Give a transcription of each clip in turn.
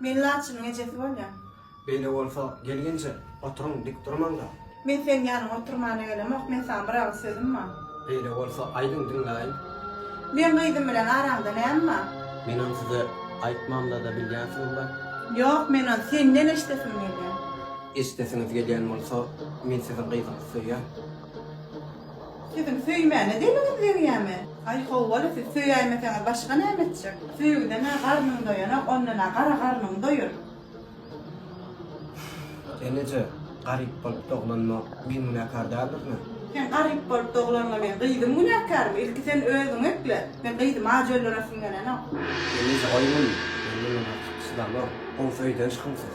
Men Laçynyň ejesi bolýan. Beýle bolsa, gelginje, oturyň, dik durmaň-da. Men seniň ýanyňa oturmana gelemok, men saňa bir agyz sözüm bar. Beýle bolsa, aýdyň, diňläýin. Meň gyzym bilen araňda näme bar? Men ony size aýtmamda-da bilýänsiňiz-le? Ýok, men ony senden eşidesim gelýär. Eşidesiňiz gelýän bolsa, men siziň gyzyňyzy söýýän. Siziň söýmäne diliňiz degýämi? Aý howwa-la siz söýäýmeseňiz başga näme etjek? Söýgüden-ä garnyň doýanok, ondan-ä gara garnyň doýur. Eneje, garyp bolup doglanma men günäkär däldirmi? Sen garyp bolup doglanma men gyzym günäkärmi? Ilki sen özüňi ekle. Men gyzymy aç öldüresim gelenok. Eneje goý muny, men munuň artyk çydamok. Gowy söýdenç kyn siz.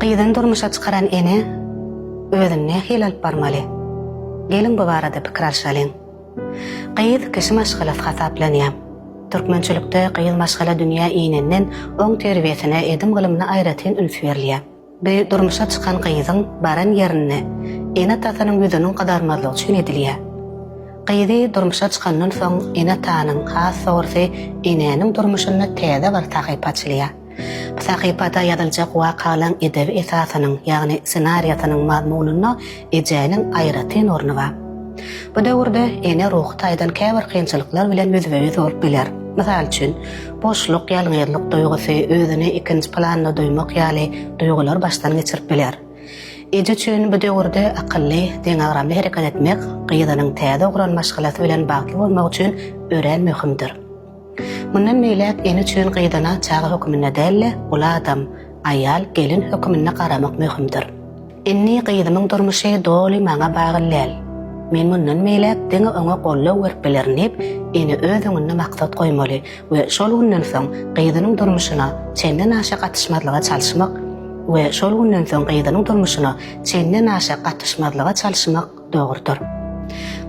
Gyzyny durmuşa çykaran ene özüni nähili alyp barmaly? Geliň bu barada pikir alşalyň. Gyz kişi maşgalasy hasaplanýar. Türkmençilikde gyz maşgala dünýä inenden oň terbiýesine, edim-gylymyna aýratyn üns berilýär. Bu durmuşa çykan gyzyň baran ýerinde ene-atasynyn ýüzüniň gyzarmazlygy üçin edilýär. Gyzy durmuşa çykandan soň ene-atanyň, has dogrusy enäniň durmuşynda täze bir sahypa açylýar. Bu sahypada ýazyljak wakalaň edebi esasynyň, ýagny ssenariýasynyň mazmunyna Ejäniň aýratyn orny bar. Bu döwürde ene ruhy taýdan käbir kynçylyklar bilen ýüzbe-ýüz bolup biler. Mysal üçin, boşluk, ýalňyzlyk duýgusy, özüni ikinji planda duýmak ýaly duýgular başdan geçirip biler. Eje üçin bu döwürde akylly, deňagramly hereket etmek gyzynyň täze guran maşgalasy bilen bagtly bolmagy üçin örän möhümdir. Mundan beýläk ene üçin gyzana çaga höküminde däl-de, uly adam, aýal, gelin höküminde garamak möhümdir. Indi gyzymyň durmuşy doly maňa bagly däl. Men mundan beýläk diňe oňa goldaw berip bilerin diýip, ene öz öňünde maksat goýmaly we şol günden soň gyzynyň durmuşyna çenden aşa gatyşmazlyga çalyşmak we şol günden soň gyzynyň durmuşyna çenden aşa gatyşmazlyga çalyşmak Dogrudyr.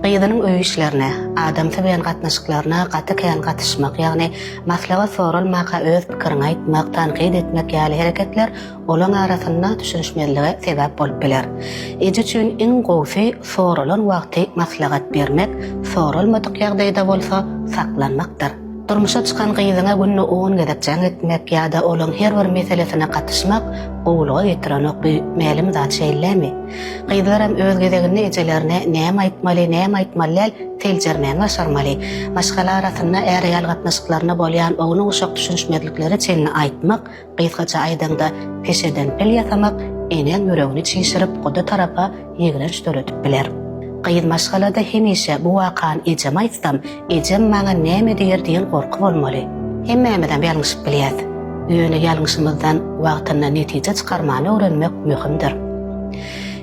Gyzynyň öý işlerine, adamsy bilen gatnaşyklaryna gaty kän gatyşmak, ýagny maslahat soralmaka öz pikiriňi aýtmak, tankyt etmek ýaly hereketler olaň arasynda düşünişmezlige sebäp bolup biler. Eje üçin iň gowusy soralan wagty maslahat bermek, soralmadyk ýagdaýda bolsa saklanmakdyr. Durmuşa çykan gyzyňa günde on gezek jaň etmek ýa-da olaň her bir meselesine gatyşmak gowulyga getirenok, bu mälim zat şeýlemi? Gyzlaram öz gezeginde ejelerine näme aýtmaly, näme aýtmaly däl, seljermäni başarmaly. Maşgala arasynda är-aýal gatnaşyklarynda bolýan ownuk-uşak düşünişmezliklere çenli aýtmak, Gysgaça aýdaňda, peşeden pil ýasamak enäň ýüregini çişirip, guda tarapa ýigrenç döredip biler. Gyz maşgalada hemişe bu wakany ejeme aýtsam, ejem maňa näme diýer diýen gorky bolmaly. Hemmämizem ýalňyşyp bilýäs. Ýöne ýalňyşymyzdan wagtynda netije çykarmany öwrenmek möhümdir.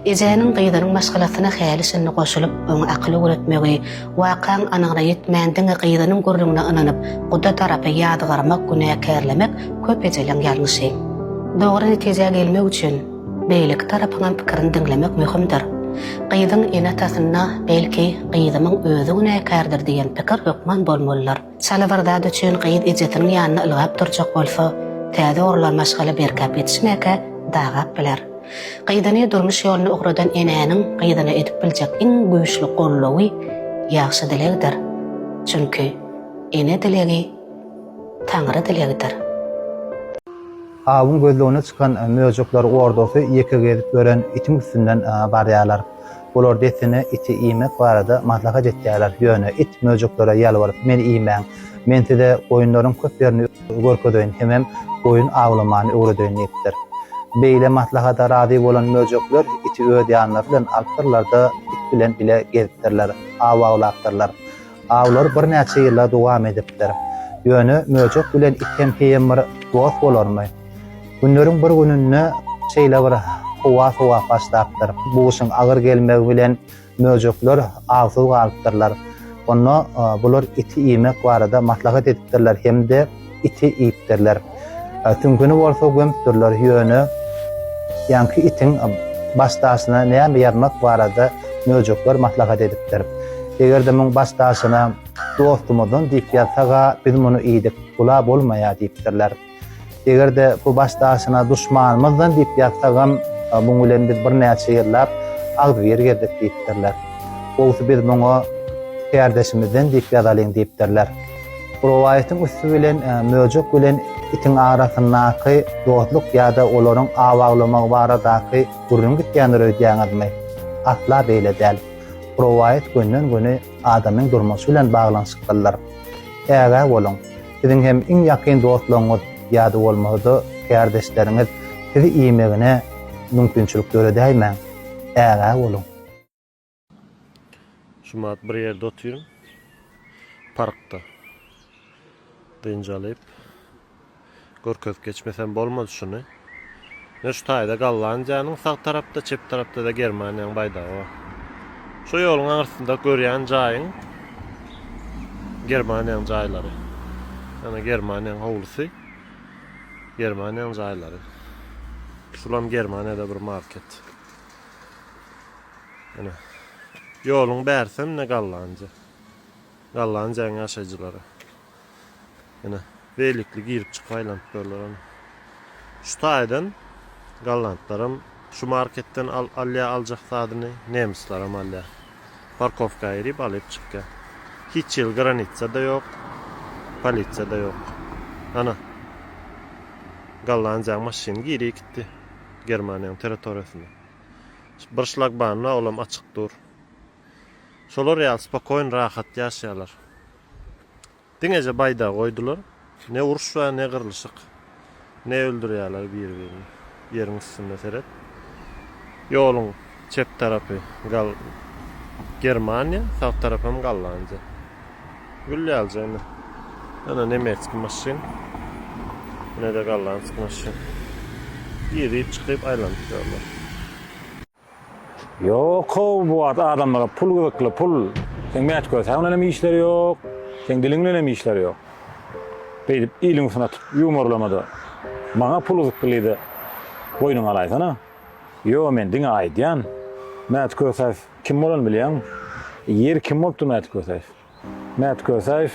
Ejäniň gyzynyň maşgalasyna häli-şindi goşulyp, oňa akyl öwretmegi, Wakaň anygyna ýetmän diňe gyzynyň gürrüňine ynanyp, guda tarapy ýazgarmak, günäkärlemek köp ejeleň ýalňyşy. Dogry netijä gelmek üçin beýleki tarapyňam pikirini diňlemek möhümdir. Gyzyň ene-atasynda belki gyzymyň özi günäkärdir diýen pikir hökman bolmalydyr. Çala bir zat üçin gyz ejesiniň ýanynda ylgap durjak bolsa, täze gurlan maşgala berkäp ýetişmäkä dagap biler. Gyzyny durmuş ýoluna ugradan enäniň gyzyna edip biljek iň güýçli goldawy ýagşy dilegdir. Çünki ene dilegi Taňry dilegidir. Awyň gözlegine çykan möjekler ordasy ýeke gezip ýören itiň üstünden barýarlar. Olar dessine iti iýmek barada maslahat etýärler, ýöne it möjeklere ýalbaryp, Meni iýmäň. Men size goýunlaryň köp ýerini görkezeýin hemem goýun awlamany öwredeýin diýipdir. Beýle maslahata razy bolan möjekler iti öz ýanlary bilen alypdyrlar-da, it bilen bile gezipdirler, aw awlapdyrlar. Awlar birnäçe ýyla dowam edipdir. Ýöne möjek bilen it hem heýem bir dost bolarmy? Günleriň bir gününde şeýle bir howa sowap başlapdyr. Bu gyşyň agyr gelmegi bilen möjekler awsyz galypdyrlar. Onda bular iti iýmek barada maslahat edipdirler hem-de. iti iýipdirler. Tüňküni bolsa gömüpdirler, ýöne ýaňky itiň baş daşyna näme ýazmak barada möjekler maslahat edipdir. Eger-de muň baş daşyna Dostumyzdan diýip ýazsag-a, biz muny iýdik, bula bolmaýar diýipdirler. Eger-de bu baş daşyna Duşmanymyzdan diýip ýazsagam, muň bilen biz birnäçe ýyllap agzybir gezdik diýipdirler. Gowusy biz muňa Kärdeşimizden diýip ýazalyň diýipdirler. Rowaýatyň üsti bilen möjek bilen itiň arasyndaky dostluk ýa-da olaryň aw awlamagy baradaky gürrüň gitýändir öýdýäňizmi? Asla beýle däl. Rowaýat gönden-göni adamyň durmuşy bilen baglanyşyklydyr. Ägä boluň, siziň hem iň ýakyn dostlaryňyz ýa-da bolmasa-da kärdeşleriňiz sizi iýmegine mümkinçilik döredäýmäň. Ägä boluň. Jumat bir ýerde otyryn. Parkda. Dynç alyp. Görkezip geçmesem bolmaz şuny. Ne şu taýda Gollandiýanyň sag tarapda, çep tarapda-da Germaniýanyň baýdagy bar. Şu ýoluň aňyrsynda görýän jaýyň Germaniýanyň jaýlary. Ýöne Germaniýanyň howlusy, Germaniýanyň jaýlary. Şulam Germaniýada bir market. Ine. Ýoluň bärsem ne Gallanja. Gallanjaň ýaşaýjylary. Ine, beýlikli girip çykyp aýlanyp durlar ine. Şu taýdan gollandlaram şu marketden al alýar aljak zadyny, nemislaram alýar. Parkowka girip alyp çykýar. Hiç ýyl granitsa-da ýok, polisiýa-da ýok. Ana. Gollanjaň maşyny girip gitdi Germaniýaň territoriýasyna. Bir şlagbaum bar olam açyk dur. Şolar ýaly spokoýn rahat ýaşaýarlar. Diňeje baýdagy goýdular. Ne uruş bar ne gyrlyşyk. Ne öldürýärler biri birini. Ýeriň üstünde seret. Ýoluň çep tarapy Gal Germaniýa sag tarapam Gollandiýa. Gül ýaly jana. Ýöne nemetski maşyn. Ne-de gollandsk maşyn. Girip çykyp aýlanyp ýörler. Ýok-ow bu wagt adamlara pul gyzykly, pul. Seň mätgösäň bilen hem işleri ýok, seň diliň bilen hem işleri ýok. Beýdip iliň üstüne atyp ýumurlama-da. Maňa pul gyzyklydy boýnuňa alaýsana. Ýo men diňe aýdýan. Mätgösäs. Kim bolany bilýäňmi? Ýer kim bolupdy Mäti Kösäýew? Mäti Kösäýew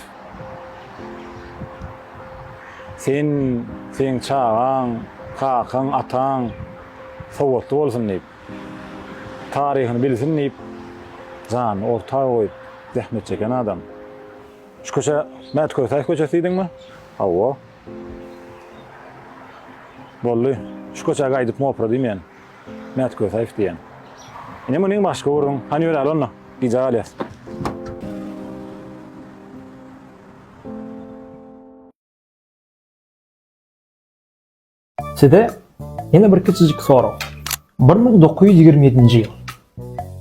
Sen, seň çagaň, kakaň, ataň sowatly bolsun diýip, taryhyny bilsin diýip, janyny orta goýup zähmet çeken adam. Şu köçä Mäti Kösäýew köçesi diýdiňmi? Hawa. Boldy. Şu köçä gaýdyp mopra diýmeýän. Mät Kösäýew diýýän. Ine muny başga urduň. Hany ýöräli onda. Gijä galýas. Size ýene bir kiçijik sorag. Bir müň dokuz ýüz ýigrimi ýedinji ýyl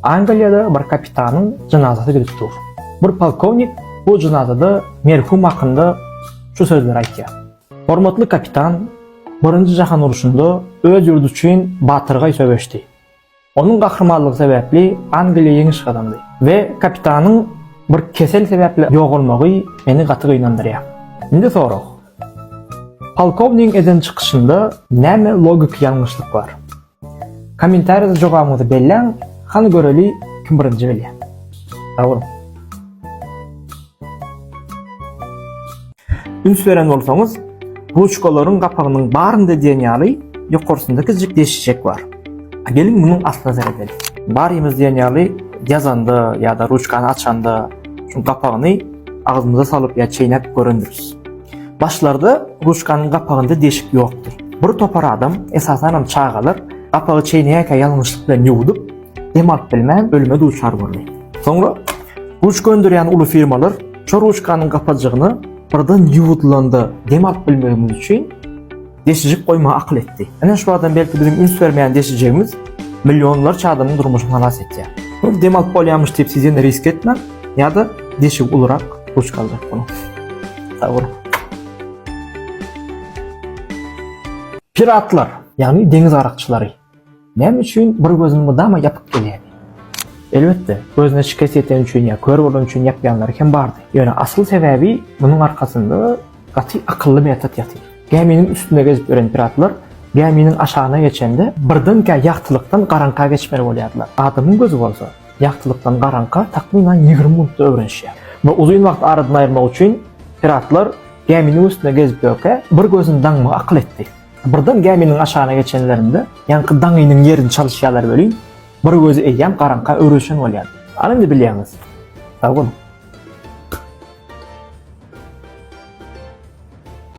Angliýada bir kapitanyň jenazasy gidip dur. Bir polkownik bu jenazada merhum hakynda şu sözleri aýtýar. Hormatly kapitan Birinji jahan uruşynda öz ýurdy üçin batyrgaý söweşdi. Onuň gahrymanlygy sebäpli Angliýa ýeňiş gazandy we kapitanyň bir kesel sebäpli ýogalmagy meni gaty gynandyrýar. Indi sorag. Polkownigiň eden çykyşynda näme logiki ýalňyşlyk bar? Kommentariýada jogabyňyzy belläň, hany göreli kim birinji bilýär. Sag boluň. Üns beren bolsaňyz, ruçkalaryň gapagynyň barynda diýen ýaly ýokarsynda kiçijik deşikjek bar. A geliň munuň aslyna seredeli. Barymyz diýen ýaly ýazanda ýa-da ruçkany açanda şu gapagyny agzymyza salyp ýa çeýnäp görendiris. Başlarda ruçkanyň gapagynda deşik ýokdur. Bir topar adam, esasanam çagalar, gapagy çeýneýärkä ýalňyşlyk bilen ýuwdup, dem alyp bilmän ölüme duçar boldy. Soňra ruçka öndürýän uly firmalar şu ruçkanyň gapajygyny birden ýuwudylanda dem alyp bilmegimiz üçin, deşijik goýmagy akyl etdi. Ine şu adam belki biziň üns bermeýän deşijigimiz millionlarça adamyň durmuşyny halas etýär. Ol dem alyp bolýarmyş diýip siz ýene risk etmäň, ýa-da deşigi ulurak ruçka aljak boluň. Sag boluň. Piratlar, ýagny deňiz garakçylary. Näme üçin bir gözüni mydama ýapyp gelýärdi? Elbetde, gözüne şikes ýeteni üçin ýa kör bolany üçin ýapýanlary hem bardy. Ýöne asyl sebäbi munuň arkasynda gaty akylly metod ýatyr. Gäminiň üstünde gezip ýören piratlar gäminiň aşagyna geçende birdenkä ýagtylykdan garaňka geçmeli bolýardylar. Adamyň gözi bolsa, ýagtylykdan garaňka takmynan ýigrimi minutda öwrenişýär. Bu uzyn wagty aradan aýyrmak üçin piratlar gäminiň üstünde gezip ýörkä bir gözüni daňmagy akyl etdi. Birden gäminiň aşagyna geçenlerinde, ýaňky daňynyň ýerini çalyşýarlar welin, bir gözi eýýäm garaňka öwrülişen bolýar. Al indi bilýäňiz. Sag boluň.